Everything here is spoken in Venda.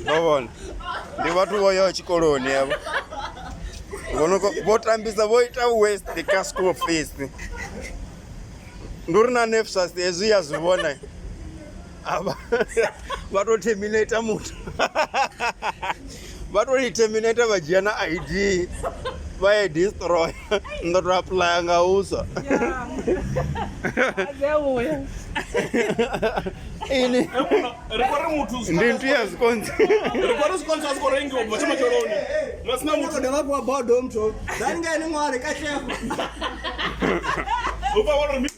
ndo vhona ndi vhathu vho yaho tshikoloni avho vho tambisa vho ita west kha school fees ndi uri na nefsas hezwi ya zwi vhona vha tou terminator muthu vha to i terminator vha dzhia na id vha ye destroy ndo to aplaya nga huswa ini ndi ntu ya zwikonzi